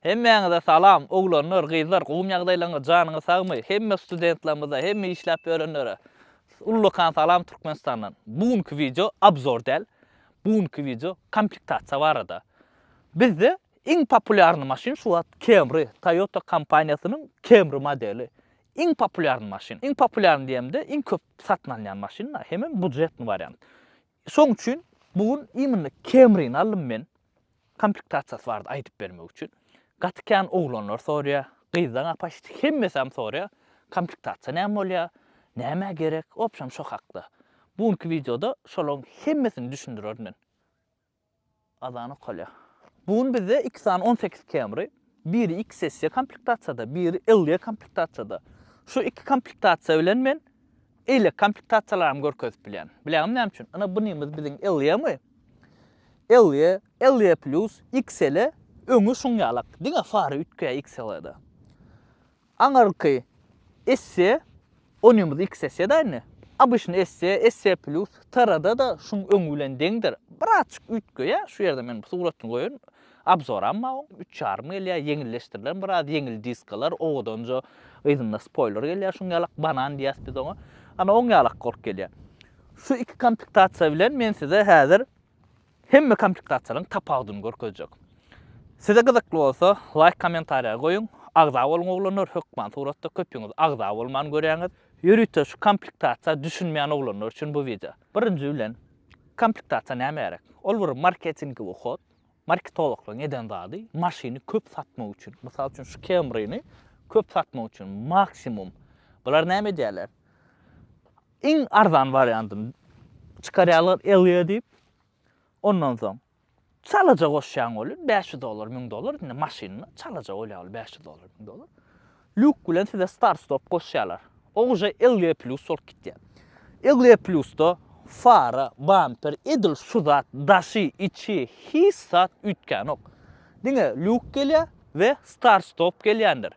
Hemmäňize salam oglanlar gyzlar gowmy ýagdaýlaryňyz janyňyz sagmy hemme studentlarymyza hemme işläp ýörenlere ullakan salam Türkmenistandan bu günki wideo obzor däl bu günki wideo komplektasiýa barada bizde iň populýarny maşyn şu wagt Camry Toyota kompaniýasynyň Camry modeli iň populýarny maşyn iň populýarny diýemde iň köp satyn alynýan maşyn hemem bujetny wariant Şoň üçin bu gün imенно Camry-ny aldym men. Komplektasiýasy bardy aýdyp bermek üçin. Gaty kän oglanlar soraýar, gyzlaň a paşti hemmesem soraýar, komplektasiýa näme bolýar, nämä gerek, w obşem şo hakda. Bu günki wideoda şolaň hemmesini düşündirerin men. Azan okalýar. Bu gün bizde iki sany on sekiz Camry, biri XSE komplektasiýada, biri LE komplektasiýada. Şu iki komplektasiýa bilen men eýlek komplektasiýalarym görkezip bilýän. Bilýäňmi näme üçin? Ine bu nimiz biziň LE-mi? LE, LE Plus, XLE öňi şuň ýalak. Diňe fary üýtgeýär XLE-de. Aňyrky esse onymyz iks esse da indi. Obyçny esse, esse plýus, TR-da da şuň öňi bilen deňdir. Birazçyk üýtgeýä, şu ýerde men bu suratny goýaryn. Abzoram bar oň, üç ýarym gelýä, ýeňilleşdirilen biraz, ýeňil diskalar, owadanja yzynda spoýler gelýä, şuň ýalak banan diýýäs biz oňa. Ana oň ýalak bolup gelýä. Şu iki kompektasiýa bilen men size häzir Hemme komplektasyýalaryň tapawudyny görkezjek. Size gyzykly bolsa laýk kommentariýa goýuň. Agza boluň oglanlar hökman suratda köpüňiz agza bolman görýäňiz. Ýörite şu komplektasiýa düşünmeýän oglanlar üçin bu wideo. Birinji bilen komplektasiýa näme gerek? Ol bir marketingowy hod. Marketologlaryň eden zady maşyny köp satmak üçin. Mysal üçin şu Camry-ni köp satmak üçin maksimum. Bular näme edýärler? Iň arzan wariantyny çykarýarlar Elliýa diýip. Ondan soň çalaja goşýaň ony, bäş ýüz dollar, müň dollar, indi maşynda çalaja bolýar ol bäş ýüz dollar, müň dollar. Lýuk bilen size start stop goşýarlar. O guşa Elliýa Plus bolup gitýär. Elliýa Plusda fara, bamper, edil şu zat, daşy, içi, hiç zat üýtgänok. Diňe lýuk gelýär we start stop gelýändir.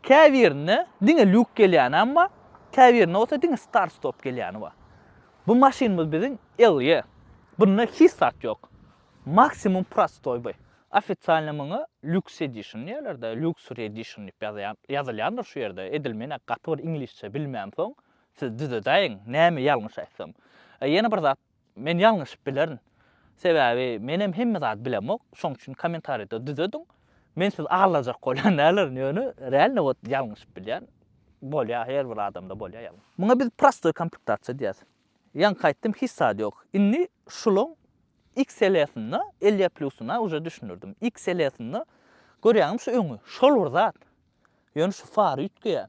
Käbirinde diňe lýuk gelýänem bar, käbirinde bolsa diňe start-stop gelýäni bar. Bu maşynymyz biziň Ellie. Bunda hiç zat ýok. Maksimum prostoý by. Ofisialny muňa Lux Edition diýerler-de, Luxury Edition diýip ýazýan, ýazylýandyr şu ýerde. Edil men-ä gaty bir iňlisçe bilmänsoň, siz düzedäýiň, näme ýalňyş aýtsam. Ýene bir zat, Men ýalňyşyp bilerin. Sebäbi menem hemme zady bilemok. Şoň üçin kommentariýada düzediň. Men sizi aldajak bolýan däldirin, ýöne realno wot ýalňyşyp bilýän. Bolýar, her bir adamda bolýar ýalňyş. Muňa biz prostoý kompuktasiýa diýýäs. Ýaňky aýtdym, hiç zat ýok. Indi şulaň XL-sinde, Elia Plus-yna uje düşündirdim. XL-sinde görýäňmi şu öňi, şol bir zat. Ýöne şu fary üýtgeýär.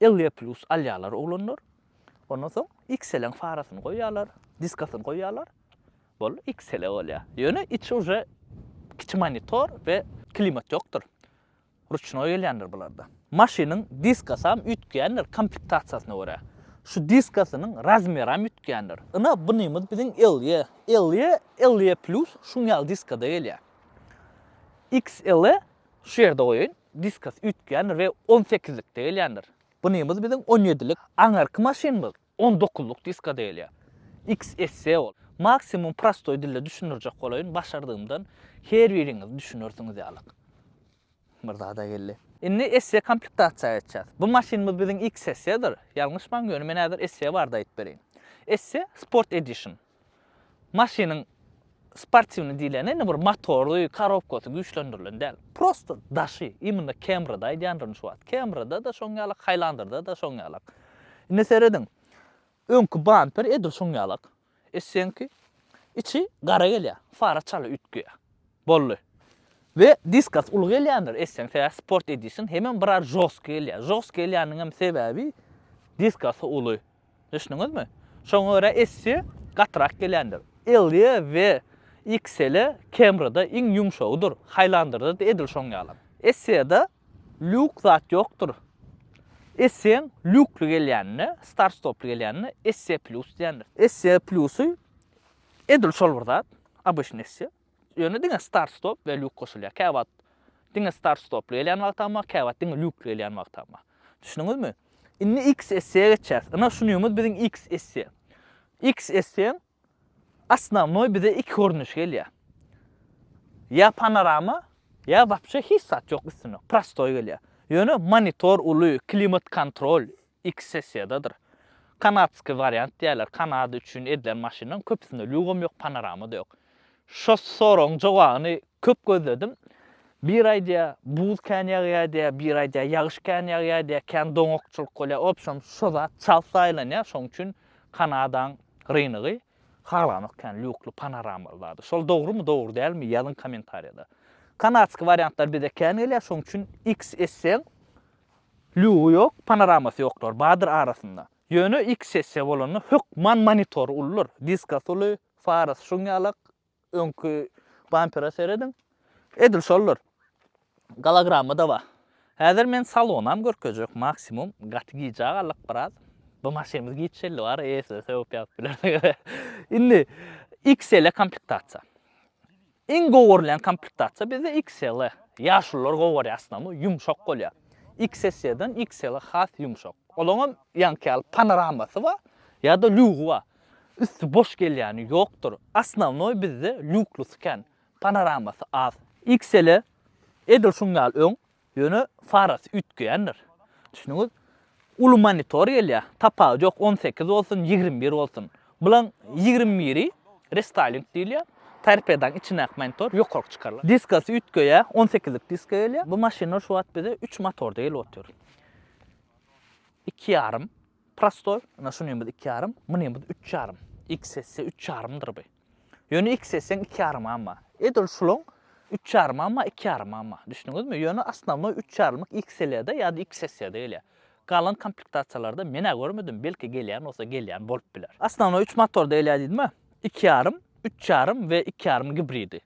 Ille plus alýarlar oglanlar. Ondan soň XL-iň farasyny goýýarlar, diskasyny goýýarlar. Boldy, XL bolýar. Ýöne içi uje kiçi monitor we klimat ýokdur. Ruçnoý gelýändir bularda. Maşynyň diskasam üýtgändir komplektasiýasyna görä. Şu diskasynyň razmeram üýtgändir. Ina bunymyz biziň Ille. Ille, Ille plus şuň ýaly diskada gelýär. XL-e Şu ýerde goýaýyn. Diskus üýtgändir we on sekizlikde gelýändir. Bunymyz biziň on ýedilik. Aňyrky maşynymyz on dokuzlyk diskuda gelýär. XSC ol. Maksimum prostoý dilde düşündirjek bolaýyn, başardygymdan her biriňiz düşünersiňiz ýalyk. Bir zada geldi. Indi SC komplektasiýa geçýäs. Bu maşynymyz biziň XSC-dir. Ýalňyşmaň, ýöne men häzir SC barada aýdyp bereýin. SC Sport Edition. Maşynyň sportiwny diýleni indi bir motory, korobkasy güýçlendirilen däl. Prosta daşy, imенно Camry-da aýdýandyryn şu wagt. Camry-da-da şoň ýalak, Highlander-da-da şoň ýalak. Indi serediň, öňki bamper edil şoň ýalak. Eşegiňki içi gara gelýär, fara çala üýtgeýär. Boldy. We diskas uly gelýändir eşegiň, sebäbi Sport Edition hemem biraz žostky gelýär. Žostky gelýäniniň hem sebäbi diskasy uly. Düşdüňizmi? Şoňa görä essi gatyrak gelýändir. Ellie we XL-e Camry-da iň ýumşagydyr, Highlander-da-da edil şoň ýalam. Essie-de lýuk zat ýokdur. Essie-iň lýukly gelýänine, start-stoply gelýänine Essie Plus diýendir. Essie Plus-y edil şol bir zat, obyçny Essie. Ýöne diňe start stop we lýuk goşulýar. Käwagt diňe start stoply gelýän wagtam bar, käwagt diňe lýukly gelýän wagtam bar. Düşündiňizmi? Indi XSC-ä geçýäs. Ynha şu nýumuz biziň XSC. XSC-iň Osnownoý bize iki görnüşi gelýär. Ýa panorama, ýa wapşe hiç zat ýok üstünde, prostoý gelýär. Ýöne monitor uly, klimat kontrol, Iki sessiýadadyr. Kanadskiý wariant diýýärler. Kanada üçin edilen maşynlaryň köpüsinde lýugam ýok, panorama-da ýok. Şo soragyň jogabyny köp gözledim. Bir aýdýar, buz kän ýagýar diýýär, bir aýdýar, ýagyş kän ýagýar diýýär, kän doňakçylyk bolýar. Obşem, şo zat çalt saýlanýar. Şonuň üçin Kanadaň rynygy halanok kän lýukly, panoramaly zady. Şol dogrumy, dogry dälmi, ýazyň kommentariýada. Kanadskiý wariantlar bize kän gelýär, şonuň üçin X etseň, Lügi ýok, panoramasy ýoklar, bardyr arasynda. Ýöne iki sessiýa bolanda hökman monitory uludyr. Diskas uly, farasy şuň ýalak, öňki bampere serediň. Edil şoldur. Gologramma-da bar. Häzir men salonam görkezjek, maksimum gaty gijä galyk biraz. Bu maşynymyz giç geldi bary eýesine sögüp ýazyp bilerdik. Indi XL-e komplektasiýa. Iň gowy görülýän komplektasiýa bizde XL. Ýaşulylar gowy görýär aslynda, ýumşak bolýar. XS-den XL has ýumşak. Olaňam ýaňky ýaly panoramasy bar, ýa-da lýugy bar. Üsti boş gelýäni ýokdur. Asnownoý bizde lýuklusy kän, panoramasy az. XL edil şuň ýaly öň, Ýöne farasy üýtgeýändir. Düşündüňiz? Uly monitor gelýär, tapagy ýok, on sekiz bolsun, ýigrimi bir bolsun. Bulaň ýigrimi biri restyling diýilýär. Torpedaň içindäki monitor ýokaryk çykarylar. Diskasy üýtgeýär, on sekizlik diska gelýär. Bu maşynlar şu wagt bize üç motorda gelip otyr. Iki ýarym prostoý, ynha şuny hem biz iki ýarym, muny hem biz üç ýarym. XS üç ýarymdyr bu. Ýöne x etseň iki ýarym amma. Edil şulaň üç ýarym amma iki ýarym amma. Düşdüňizmi? Ýöne asnawnoý üç ýarymlyk XL-de ýa-da XSE-de gelýär. Galan komplektasiýalarda men-ä görmedim, belki gelýän bolsa gelýän bolup biler. Asnawnoý üç motorda gelýär diýdim-ä. Iki ýarym, üç ýarym we iki ýarym gibridi.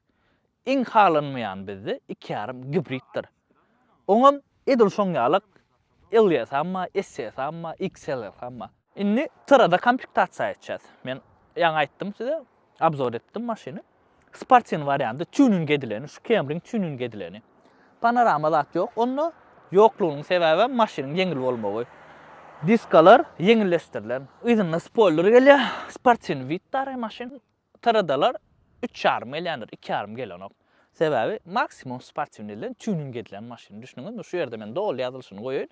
Iň halanmaýany bizde iki ýarym gibriddir. Oňam edil şoň ýalak LS amma, SS amma, XLS amma. Indi syrada komplektatsiýa etjäs. Men ýaňy aýtdym size, obzor etdim maşyny. Sportiwnyý warianty, týuning edileni, şu Camryň týuning edileni. Panorama zat ýok onda. Ýoklugynyň sebäbem maşynyň ýeňil bolmagy. Diskalar ýeňilleşdirilen. Yzynda spoýler gelýär. Sportiwnyý widtary maşyn. TRD-lar üç ýarym gelýändir, iki ýarym gelenok. Sebäbi maksimum sportiwnyý bilen tuning edilen maşyn. Düşündiňizmi? Şu ýerde men doly ýazylyşyny goýaýyn.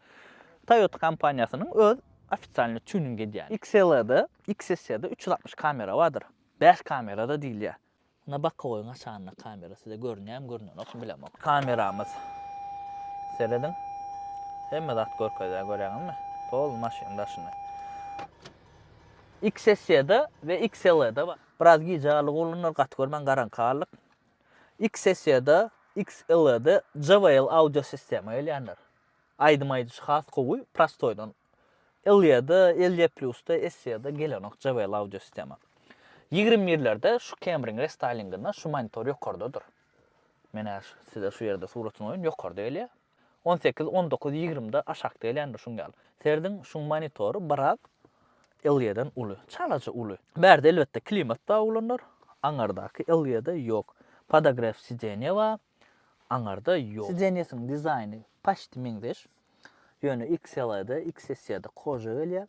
Toyota kompaniýasynyň öz ofitsialnyý tuning edýän. XL-de, XSE-de üç ýüz altmyş kamera bardyr. Bäş kamera-da diýilýär. Ynha bokowyň açanyna kamera size görünýärmi, görünenokmy bilemok. Kameramyz. Serediň. Hemme zat görkezýär, görýäňizmi? Pol maşynyň daşyny. XSE-de we XLE-de bar. Biraz gije arlygy olanlar gaty görmän garaňky arlyk. XSE-de, XLE-de JBL audio sistema gelýändir. Aýdym aýdyjy has gowy, prostoýdan. LE-de, LE Plus-da, SE-de gelenok JBL audio sistema. Ýigrimi birlerde şu Camry-iň restaýlinginde şu monitor ýokardadyr. Menä size şu ýerde suratyny goýun, ýokarda gelýär. On sekiz, on dokuz, ýigrimide aşakda gelýändir şuň ýaly. Serediň, şuň monitory biraz LG-den uly. Çalaja uly. Bärde elbetde klimat bar oglanlar. Aňardaky LG-de ýok. Podogref sidenýe bar. Aňarda ýok. Sidenýesiň dizaýny paçti meňzeş. Ýöne XLE-de, XSE-de koja gelýär.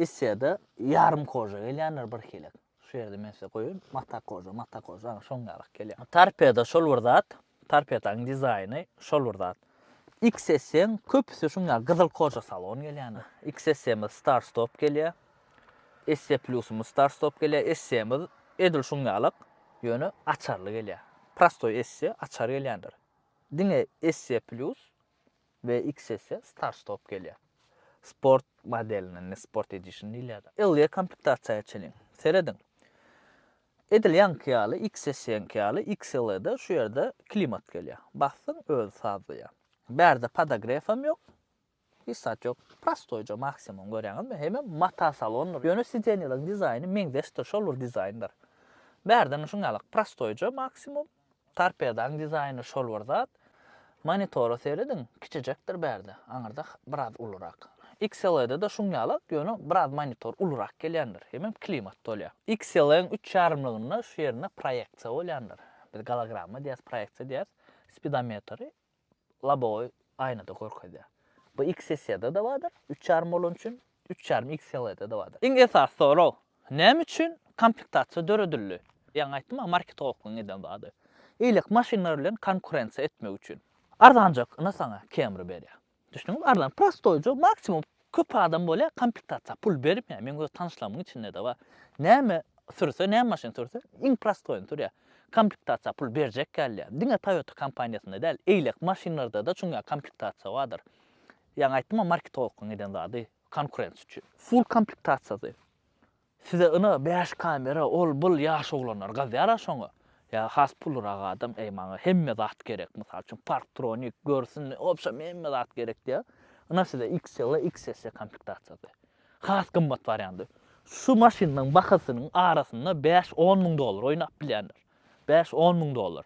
SE-de ýarym koja gelýändir birhilek. Şu ýerde men size goýaýyn. Mata koža, mata koža, aňa şoň ýalak gelýär. Torpedo şol bir zat, torpedaň dizaýny şol bir zat. XSM köpüsi şuň ýaly gyzyl koža salon gelýän. XSM-de star stop gelýär. ST Plus-ymyz star stop gelýär. ST-miz edil şuň ýalak, ýöne açarly gelýär. Prostoý ST açar gelýändir. Diňe ST Plus we X esse start stop gelýär. Sport modeline ne sport edition diýilýär. Ylja komplektasiýa çenli. Serediň. Edil ýaňky ýaly X esseňki ýaly XLE-de şu ýerde klimat gelýär. Basdyň özi sazlaýar. Bärde podogrefam ýok. Hiç zat ýok. Prostoýja maksimum görýäňizmi? Hemem mata salondyr. Ýöne sidenýalaryň dizaýny meňzeşdir, şol bir dizaýndyr. Bärde şuňňalak prostoýja maksimum. Torpedaň dizaýny şol bir zat. Monitora serediň, kiçijekdir bärde, aňyrda biraz ulurak. XLE-de-de şuň ýala, ýöne biraz monitor ulurak gelýändir, hemem klimat dolýar. XLE-iň üç ýarymlygynda şu ýerinde proýeksiýa bolýandyr. Biz gologramma diýýäs, proýeksiýa diýýäs. Spidometri, Lobowy aýnada görkezýär. Bu X sessiýada-da bardyr, üç ýarym bolany üçin, üç ýarym X seliýada-da bardyr. Iň esasy sorag, näme üçin komplektasiýa döredildi? Ýaňy aýtdym-a, marketologlaryň eden zady. Ilek maşynlar bilen konkurensiýa etmek üçin. Arzanjak, ynha saňa Camry berýär. Düşdüňizmi arzan prostoýja maksimum köp adam bolýa komplektasiýa pul bermeýä meň öz tanyşlarymyň içindede bar näme sürse näme maşyn sürse iň prostoýyny sürýä komplektasiýa pul berjek gelýä diňe toýota kompaniýasynda däl eýlek maşynlardada çuňňä komplektasiýa bardyr ýaňy aýtdym a marketologlaň eden zady konkurensiýa üçin full komplektasiýasy Size yna bäş kamera ol bul ýaş oglanlar gazýara şoňa ýa has pullyrak adam eý maňa hemme zat gerek mysal üçin parktronik görsün wobşem hemme zat gerek diýä yna size xl xss komplektasiýasy has gymmat wariandy şu maşynlaň bahasynyň arasynda bäş on müň dollar oýnap bilýändir bäş on müň dollar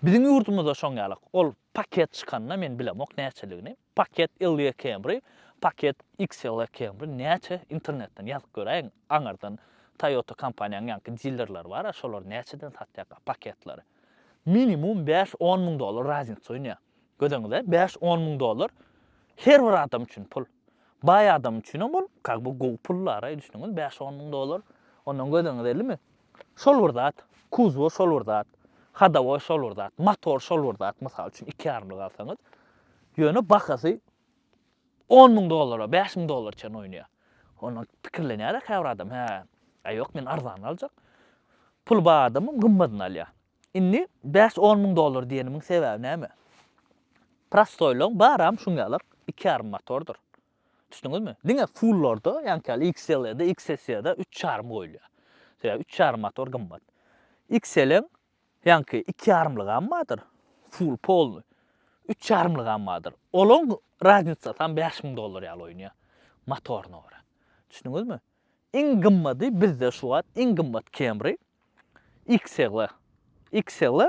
biziň ýurdumyzda şoň ýalak ol paket çykanda men bilemok näçeligini. Paket Ylýa Camry, Paket XLE Camry näçe internetden ýazyp göräýiň aňyrdan Toyota kompaniýanyň ýaňky dillerleri bar a şolar näçeden satýaka paketleri. Minimum bäş on müň dollar raznyça oýnaýa. Gözeňize bäş on müň dollar her bir adam üçin pul. Baý adam üçinem ol kak bu gowy pul dara düşüniňiz bäş on müň dollar ondan gözeňiz ellimi. Şol bir zat, kuzwa şol bir zat, hadowa şol bir zat, motor şol bir zat, mysal üçin, iki ýarymlyk alsaňyz, ýöne bahasy on müň dollara, bäş müň dollara çenli oýnaýar. Onda pikirlenýär-ä käbir adam, hä, aý ýok, men arzanyny aljak. Puly bar adamym gymmadyny alýar. Indi bäş-on müň dollar diýenimiň sebäbi näme? Prostoýlaň baram şuň ýalar, iki ýarym motordyr. Düşdüňizmi? Diňe full-larda, ýaňky ýaly XL-de, XS-de üç ýarym goýulýar. Sebäbi üç ýarym motor gymmat. XL-iň ýaňky iki ýarymlygam bardyr, full, polnyý. Üç ýarymlygam bardyr. Olaň raznicasam bäş müň dollar ýaly oýnaýar, motoryna görä. Düşdüňizmi? Iň gymmady bizde şu wagt iň gymmat Camry XL. XL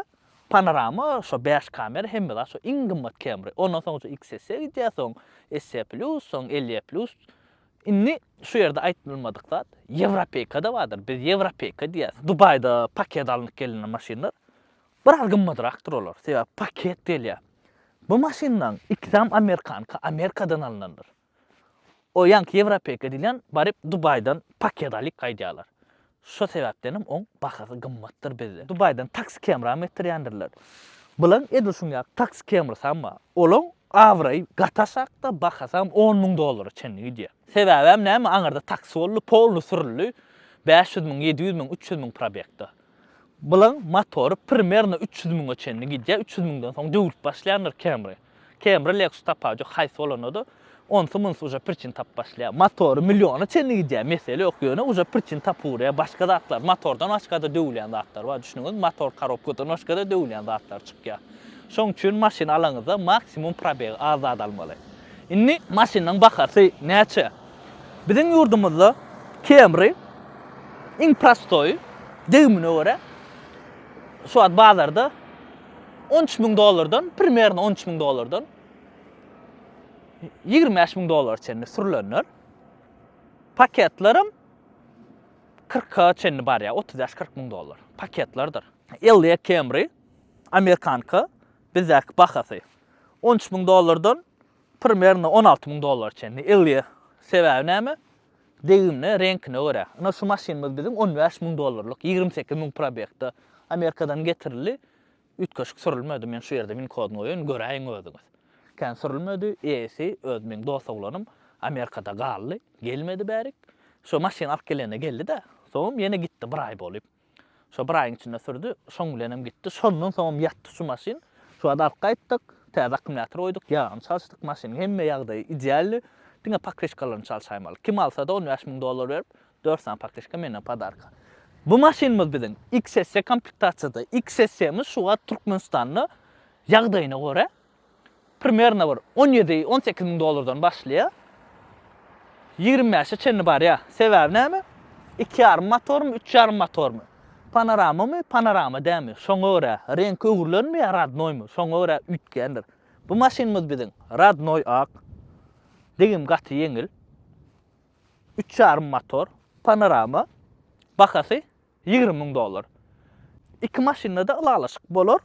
panorama şo bäş kamera hemme zat şo iň gymmat Camry. Ondan soň şu XS-e gidýär soň SE plus soň LE plus. Indi şu ýerde aýtmylmadyk zat Ýewropeýkada bardyr biz Ýewropeýka diýýäs. Dubaýda paket alnyp gelinen maşynlar biraz gymmadrakdyr olar sebäbi paket gelýär. Bu maşynlaň ikisem amerikanka Amerikadan alynandyr. O ýaňky ýewropeýka diýlen baryp Dubaýdan paket alyp gaýdýarlar. Şo sebäpdenem oň bahasy gymmatdyr bizde. Dubaýdan taksi kemram etdirýändirler. Bulaň edil şuň ýaly taksi kemrsam bar. Olaň abraýy gaty aşakda, bahasam on müň dollara çenli gidýär. Sebäbem näme aňyrda taksi boldy, polny sürüldi, bäş ýüz müň, ýedi ýüz müň, üç ýüz müň probegda. Bulaň motory primerno üç ýüz müňe çenli gidýär, üç ýüz müňden soň döwülip başlaýandyr kemri. Camry Lexus tapawudy ýok haýsy bolanda-da onsy munsy uja priçin tapyp başlaýar. Motory milliona çenli gidýär mesele ýok ýöne uja priçin tapyp urýar başga zatlar motordan başgada döwülýän zatlar bar düşdüňizmi motor karobkadan başgada döwülýän zatlar çykýar. Şoň üçin maşyn alaňyzda maksimum probegi az zat almaly. Indi maşynyň bahasy näçe? Biziň ýurdumyzda Camry iň prostoýy degimine görä şu wagt bazarda On üç müň dollardan, primerno on üç müň dollardan ýigrimi bäş müň dollara çenli sürülenler. Paketlerim kyrka çenli barýar, otuz bäş kyrk müň dollar. Paketlerdir. Elliýa Camry, amerikanka, bizdäki bahasy. On üç müň dollardan primerno on alty müň dollara çenli. Elliýa sebäbi näme? Degimine, reňkine görä. Ynha şu maşynymyz biziň on bäş müň dollarlyk, ýigrimi sekiz müň probegtde. Amerikadan getirildi. Üýtgeşik sürülmedi. Men şu ýerde win kodyny goýaýyn, göräýiň özüňiz. Kän sürülmedi. Eýesi, öz meň dost oglanym. Amerikada galdy. Gelmedi bärik. Şu maşyny alyp gelende geldi-de. Soňam ýene gitdi bir aý bolyp. Şo bir aýyň içinde sürdi. Şoň bilenem gitdi. Şondan soňam ýatdy şu maşyn. Şu wagt alyp gaýtdyk. Täze akkumulýator goýduk. Ýagyny çalyşdyk. Maşynyň hemme ýagdaýy idealny. Diňe pokrişkalaryny çalşaýmaly. Kim alsa-da on bäş müň dollar berip, dört sany pokrişka menden podarka. Bu maşynymyz biziň XSE komplektasiýada. XSE-miz şu wagt Türkmenistanda ýagdaýyna görä Primerno bir on ýedi, on sekiz müň dollardan başlaýar. Ýigrimi bäşe çenli barýar. Sebäbi näme? Iki ýarym motormy, üç ýarym motormy? Panoramamy, panorama dälmi? Şoňa görä, reňki öwrülenmi ýa rodnoýmy? Şoňa görä üýtgändir. Bu maşynymyz biziň rodnoý ak. Degim gaty ýeňil. Üç ýarym motor, panorama. Bahasy Ýigrimi müň dollar. Iki maşynda-da ylalaşyk bolar.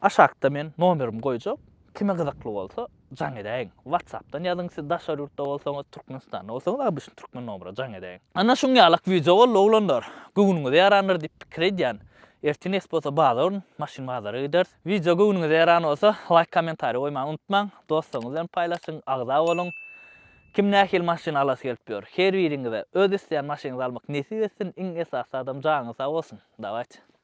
Aşakda men nomerimi goýjak. Kime gyzykly bolsa, jaň edäýiň. WhatsApp-dan ýazyň, siz daşary ýurtda bolsaňyz, Türkmenistanda bolsaňyz, obýçny türkmen nomera jaň edäýiň. Ana şuň ýalak wideo boldy, oglanlar. Göwnüňize ýarandyr diýip pikir edýän. Ertir nesip bolsa bazar gün maşyn bazara gideris. Wideo göwnüňize ýaran bolsa, laýk, kommentariý goýmagy unutmaň. Dostlaryňyz bilen paýlaşyň, agza boluň. Kim nähili maşyn alasy gelip ýör. Her biriňize öz isleýän maşynyňyzy almak nesip etsin iň esasy zadam janyňyz sag bolsun. Dawayt.